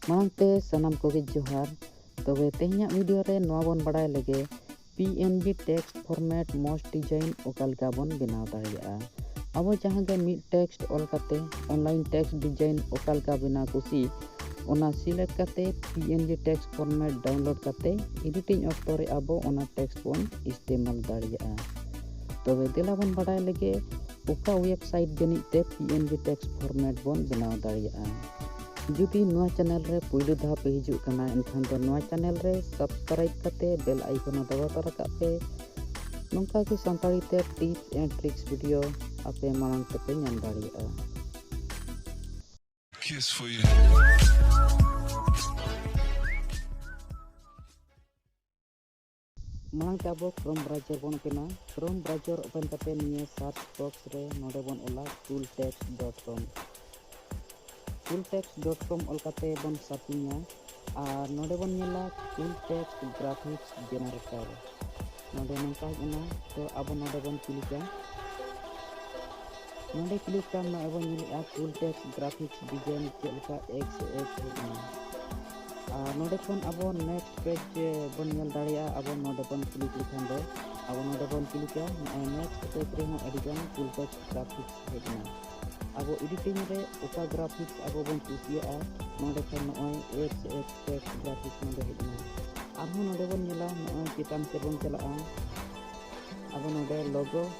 ᱢᱟᱲᱟᱝ ᱛᱮ ᱥᱟᱱᱟᱢ ᱠᱚᱜᱮ ᱡᱚᱦᱟᱨ ᱛᱚᱵᱮ ᱛᱮᱦᱮᱧᱟᱜ ᱵᱷᱤᱰᱤᱭᱳ ᱨᱮ ᱱᱚᱣᱟ ᱵᱚᱱ ᱵᱟᱲᱟᱭ ᱞᱮᱜᱮ P N B text format ᱢᱚᱡᱽ ᱰᱤᱡᱟᱭᱤᱱ ᱚᱠᱟ ᱞᱮᱠᱟ ᱵᱚᱱ ᱵᱮᱱᱟᱣ ᱫᱟᱲᱮᱭᱟᱜᱼᱟ ᱟᱵᱚ ᱡᱟᱦᱟᱸ ᱜᱮ ᱢᱤᱫ ᱴᱮᱠᱥᱴ ᱚᱞ ᱠᱟᱛᱮ ᱚᱱᱞᱟᱭᱤᱱ ᱴᱮᱠᱥᱴ ᱰᱤᱡᱟᱭᱤᱱ ᱚᱠᱟ ᱞᱮᱠᱟ ᱵᱮᱱᱟᱣ ᱠᱩᱥᱤ ᱚᱱᱟ ᱥᱤᱞᱮᱠᱴ ᱠᱟᱛᱮ P N B text format download ᱠᱟᱛᱮ ᱮᱰᱤᱴᱤᱝ ᱚᱠᱛᱚ ᱨᱮ ᱟᱵᱚ ᱚᱱᱟ ᱴᱮᱠᱥᱴ ᱵᱚᱱ ᱤᱥᱛᱮᱢᱟᱞ ᱫᱟᱲᱮᱭᱟᱜᱼᱟ ᱛᱚᱵᱮ ᱫᱮᱞᱟ ᱵᱚᱱ ᱵᱟᱲᱟᱭ ᱞᱮᱜᱮ ᱚᱠᱟ ᱣᱮᱵᱥᱟᱭᱤᱴ ᱡᱟᱹᱱᱤᱡ ᱛᱮ P N G text format ᱵᱚᱱ ᱵᱮᱱᱟᱣ ᱫᱟᱲᱮᱭᱟᱜᱼᱟ ᱡᱩᱫᱤ ᱱᱚᱣᱟ ᱪᱮᱱᱮᱞ ᱨᱮ ᱯᱩᱭᱞᱩ ᱫᱷᱟᱣ ᱯᱮ ᱦᱤᱡᱩᱜ ᱠᱟᱱᱟ ᱮᱱᱠᱷᱟᱱ ᱫᱚ ᱱᱚᱣᱟ ᱪᱮᱱᱮᱞ ᱨᱮ ᱥᱟᱵᱥᱠᱨᱟᱭᱤᱵ ᱠᱟᱛᱮ ᱵᱮᱞ ᱟᱭᱠᱚᱱ ᱫᱟᱵᱟᱣ ᱛᱟᱨᱟ ᱠᱟᱜ ᱯᱮ ᱱᱚᱝᱠᱟ ᱜᱮ ᱥᱟᱱᱛᱟᱲᱤ ᱛᱮ ᱴᱤᱯᱥ ᱮᱱᱰ ᱴᱨᱤᱠᱥ ᱵᱷᱤᱰᱤᱭᱳ ᱟᱯᱮ ᱢᱟᱲᱟᱝ ᱛᱮᱯᱮ ᱧᱟᱢ ᱫᱟᱲᱮᱭᱟᱜᱼᱟ Kiss for you. ᱢᱟᱲᱟᱝ ᱛᱮ ᱟᱵᱚ ᱠᱨᱳᱢ ᱵᱨᱟᱣᱡᱟᱨ ᱵᱚᱱ ᱳᱯᱮᱱᱟ ᱠᱨᱳᱢ ᱵᱨᱟᱣᱡᱟᱨ ᱳᱯᱮᱱ ᱠᱟᱛᱮ ᱱᱤᱭᱟᱹ ᱥᱟᱨᱪ ᱵᱚᱠᱥ ᱨᱮ ᱱᱚᱰᱮ ᱵᱚᱱ ᱚᱞᱟ cool text dot com cool text dot com ᱚᱞ ᱠᱟᱛᱮ ᱵᱚᱱ ᱥᱟᱨᱪᱤᱝᱟ ᱟᱨ ᱱᱚᱰᱮ ᱵᱚᱱ ᱧᱮᱞᱟ ᱠᱩᱞ ᱴᱮᱠᱥ ᱜᱨᱟᱯᱷᱤᱠᱥ ᱡᱮᱱᱟᱨᱮᱴᱚᱨ ᱱᱚᱰᱮ ᱱᱚᱝᱠᱟ ᱦᱮᱡ ᱮᱱᱟ ᱛᱚ ᱟᱵᱚ ᱱᱚᱰᱮ ᱵᱚᱱ ᱠᱞᱤᱠᱟ ᱱᱚᱰᱮ ᱠᱞᱤᱠ ᱠᱟᱛᱮ ᱟᱵᱚ ᱧᱮᱞᱮᱜᱼᱟ ᱠᱩᱞ ᱴᱮᱠᱥ ᱜᱨᱟᱯᱷᱤᱠᱥ ᱰᱤᱡᱟᱭᱤᱱ ᱪᱮᱫ ᱞᱮᱠᱟ ᱮᱠᱥ ᱮᱠᱥ ᱦᱮᱡ ᱮᱱᱟ ᱟᱨ ᱱᱚᱰᱮ ᱠᱷᱚᱱ ᱟᱵᱚ ᱱᱮᱠᱥᱴ ᱯᱮᱡᱽ ᱵᱚᱱ ᱧᱮᱞ ᱫᱟᱲᱮᱭᱟᱜᱼᱟ ᱟᱵᱚ ᱱᱚᱰᱮ ᱵᱚᱱ ᱠᱞᱤᱠ ᱞᱮᱠᱷᱟᱱ ᱫᱚ ᱟᱵᱚ ᱱᱚᱰᱮ ᱵᱚᱱ ᱠᱞᱤᱠᱟ ᱱᱚᱜᱼᱚᱭ ᱱᱮᱠᱥᱴ ᱯᱮᱡᱽ ᱨᱮᱦᱚᱸ ᱟᱹᱰᱤᱜᱟᱱ ᱯᱷᱩᱞ ᱴᱮᱠ ᱜᱨᱟᱯᱷᱤᱠᱥ ᱦᱮᱡ ᱮᱱᱟ ᱟᱵᱚ ᱮᱰᱤᱴᱤᱝ ᱨᱮ ᱚᱠᱟ ᱜᱨᱟᱯᱷᱤᱠᱥ ᱟᱵᱚ ᱵᱚᱱ ᱠᱩᱥᱤᱭᱟᱜᱼᱟ ᱱᱚᱰᱮ ᱠᱷᱚᱱ ᱱᱚᱜᱼᱚᱭ ᱮᱯᱥ ᱮᱯᱥ ᱴᱮᱠ ᱜᱨᱟᱯᱷᱤᱠᱥ ᱱᱚᱰᱮ ᱦᱮᱡ ᱮᱱᱟ ᱟᱨᱦᱚᱸ ᱱᱚᱰᱮ ᱵᱚᱱ ᱧᱮᱞᱟ ᱱᱚᱜᱼᱚᱭ ᱪᱮᱛᱟᱱ ᱥᱮᱫ ᱵᱚᱱ ᱪᱟᱞᱟᱜᱼᱟ ᱟᱵᱚ ᱱᱚᱰᱮ ᱞᱚᱜᱳ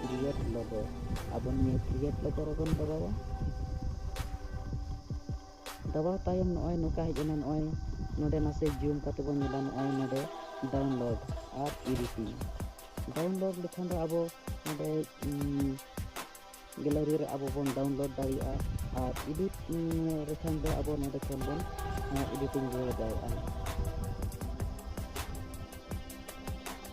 ᱠᱨᱤᱭᱮᱴ ᱞᱳᱜᱳ ᱟᱵᱚ ᱱᱤᱭᱟᱹ ᱠᱨᱤᱭᱮᱴ ᱞᱳᱜᱳ ᱨᱮᱵᱚᱱ ᱫᱟᱵᱟᱣᱟ ᱫᱟᱵᱟᱣ ᱛᱟᱭᱚᱢ ᱱᱚᱜᱼᱚᱭ ᱱᱚᱝᱠᱟ ᱦᱮᱡ ᱮᱱᱟ ᱱᱚᱜᱼᱚᱭ ᱱᱚᱰᱮ ᱱᱟᱥᱮ ᱡᱩᱢ ᱠᱟᱛᱮ ᱵᱚᱱ ᱧᱮᱞᱟ ᱱᱚᱜᱼᱚᱭ ᱱᱚᱰᱮ ᱰᱟᱣᱩᱱᱞᱳᱰ ᱟᱨ ᱮᱰᱤᱴᱤᱝ ᱰᱟᱣᱩᱱᱞᱳᱰ ᱞᱮᱠᱷᱟᱱ ᱫᱚ ᱟᱵᱚ ᱱᱚᱰᱮ ᱜᱮᱞᱟᱨᱤ ᱨᱮ ᱟᱵᱚ ᱵᱚᱱ ᱰᱟᱣᱩᱱᱞᱳᱰ ᱫᱟᱲᱮᱭᱟᱜᱼᱟ ᱟᱨ ᱮᱰᱤᱴ ᱞᱮᱠᱷᱟᱱ ᱫᱚ ᱟᱵᱚ ᱱᱚᱰᱮ ᱠᱷᱚᱱ ᱵᱚᱱ ᱮᱰᱤᱴᱤᱝ ᱨᱩᱣᱟᱹᱲ ᱫᱟᱲᱮᱭᱟᱜᱼᱟ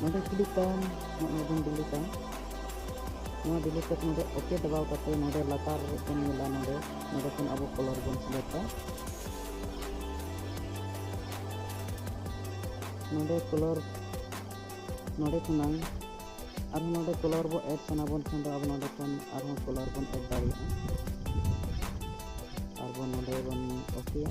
ᱱᱚᱰᱮ ᱠᱞᱤᱠ ᱛᱟᱢ ᱱᱚᱜᱼᱚᱭ ᱵᱚᱱ ᱰᱤᱞᱤᱴᱟ ᱱᱚᱣᱟ ᱰᱤᱞᱤᱴ ᱠᱟᱛᱮ ᱱᱚᱰᱮ ᱳᱠᱮ ᱫᱟᱵᱟᱣ ᱠᱟᱛᱮ ᱱᱚᱰᱮ ᱞᱟᱛᱟᱨ ᱵᱚᱱ ᱧᱮᱞᱟ ᱱᱚᱰᱮ ᱱᱚᱰᱮ ᱠᱷᱚᱱ ᱟᱵᱚ ᱠᱚᱞᱚᱨ ᱵᱚᱱ ᱥᱤᱞᱮᱠᱴᱟ ᱱᱚᱰᱮ ᱠᱚᱞᱚᱨ ᱱᱚᱰᱮ ᱠᱷᱚᱱᱟᱝ ᱟᱨᱦᱚᱸ ᱱᱚᱰᱮ ᱠᱚᱞᱚᱨ ᱵᱚ ᱮᱰ ᱥᱟᱱᱟ ᱵᱚᱱ ᱠᱷᱟᱱ ᱫᱚ ᱟᱵᱚ ᱱᱚᱰᱮ ᱠᱷᱚᱱ ᱟᱨᱦᱚᱸ ᱠᱚᱞᱚᱨ ᱵᱚᱱ ᱮᱰ ᱫᱟᱲᱮᱭᱟᱜᱼᱟ ᱟᱨᱵᱚᱱ ᱱᱚᱰᱮ ᱵᱚᱱ ᱳᱠᱮᱭᱟ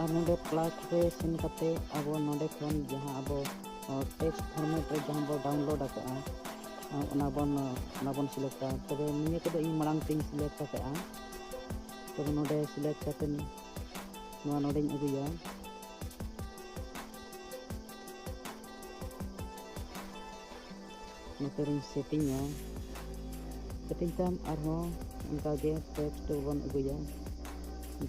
ᱟᱨ ᱱᱚᱰᱮ ᱯᱞᱟᱥ ᱨᱮ ᱥᱮᱱ ᱠᱟᱛᱮ ᱟᱵᱚ ᱱᱚᱰᱮ ᱠᱷᱚᱱ ᱡᱟᱦᱟᱸ ᱟᱵᱚ ᱴᱮᱠᱥᱴ ᱯᱷᱚᱨᱢᱮᱴ ᱨᱮ ᱡᱟᱦᱟᱸ ᱵᱚ ᱰᱟᱣᱩᱱᱞᱳᱰ ᱟᱠᱟᱫᱼᱟ ᱚᱱᱟ ᱵᱚᱱ ᱚᱱᱟ ᱵᱚᱱ ᱥᱤᱞᱮᱠᱴᱟ ᱛᱚᱵᱮ ᱱᱤᱭᱟᱹ ᱠᱚᱫᱚ ᱤᱧ ᱢᱟᱲᱟᱝ ᱛᱮᱧ ᱥᱤᱞᱮᱠᱴ ᱟᱠᱟᱫᱼᱟ ᱛᱚᱵᱮ ᱱᱚᱰᱮ ᱥᱤᱞᱮᱠᱴ ᱠᱟᱛᱮ ᱱᱚᱣᱟ ᱱᱚᱰᱮᱧ ᱟᱹᱜᱩᱭᱟ ᱱᱚᱛᱮᱨᱤᱧ ᱥᱮᱴᱤᱝᱟ ᱥᱮᱴᱤᱝ ᱛᱟᱭᱚᱢ ᱟᱨᱦᱚᱸ ᱚᱱᱠᱟᱜᱮ ᱴᱮᱠᱥᱴ ᱵᱚᱱ ᱟᱹᱜᱩᱭᱟ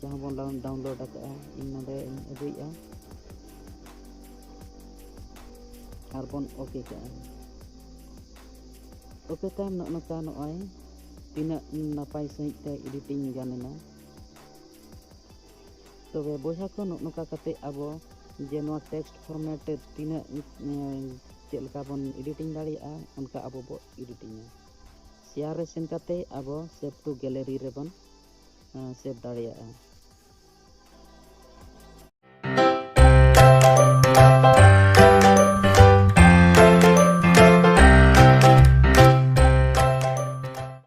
ᱡᱟᱦᱟᱸ ᱵᱚᱱ ᱰᱟᱣᱩᱱᱞᱳᱰ ᱟᱠᱟᱫᱼᱟ ᱤᱧ ᱱᱚᱰᱮ ᱤᱧ ᱟᱹᱜᱩᱭᱮᱫᱼᱟ ᱟᱨ ᱵᱚᱱ ᱳᱠᱮ ᱠᱟᱜᱼᱟ ᱳᱠᱮ ᱛᱟᱭᱚᱢ ᱱᱚᱜᱼᱚ ᱱᱚᱝᱠᱟ ᱱᱚᱜᱼᱚᱭ ᱛᱤᱱᱟᱹᱜ ᱱᱟᱯᱟᱭ ᱥᱟᱺᱦᱤᱡ ᱛᱮ ᱮᱰᱤᱴᱤᱝ ᱜᱟᱱ ᱮᱱᱟ ᱛᱚᱵᱮ ᱵᱚᱭᱦᱟ ᱠᱚ ᱱᱚᱜ ᱱᱚᱝᱠᱟ ᱠᱟᱛᱮ ᱟᱵᱚ ᱡᱮ ᱱᱚᱣᱟ ᱴᱮᱠᱥᱴ ᱯᱷᱚᱨᱢᱮᱴ ᱛᱤᱱᱟᱹᱜ ᱪᱮᱫ ᱞᱮᱠᱟ ᱵᱚᱱ ᱮᱰᱤᱴᱤᱝ ᱫᱟᱲᱮᱭᱟᱜᱼᱟ ᱚᱱᱠᱟ ᱟᱵᱚ ᱵᱚ ᱮᱰᱤᱴᱤᱝᱟ ᱥᱮᱭᱟᱨ ᱨᱮ ᱥᱮᱱ ᱠᱟᱛᱮ ᱟᱵᱚ ᱥᱮᱵᱷ ᱴᱩ ᱜᱮᱞᱮᱨᱤ ᱨᱮᱵᱚᱱ ᱥᱮᱵᱷ ᱫᱟᱲᱮᱭᱟᱜᱼᱟ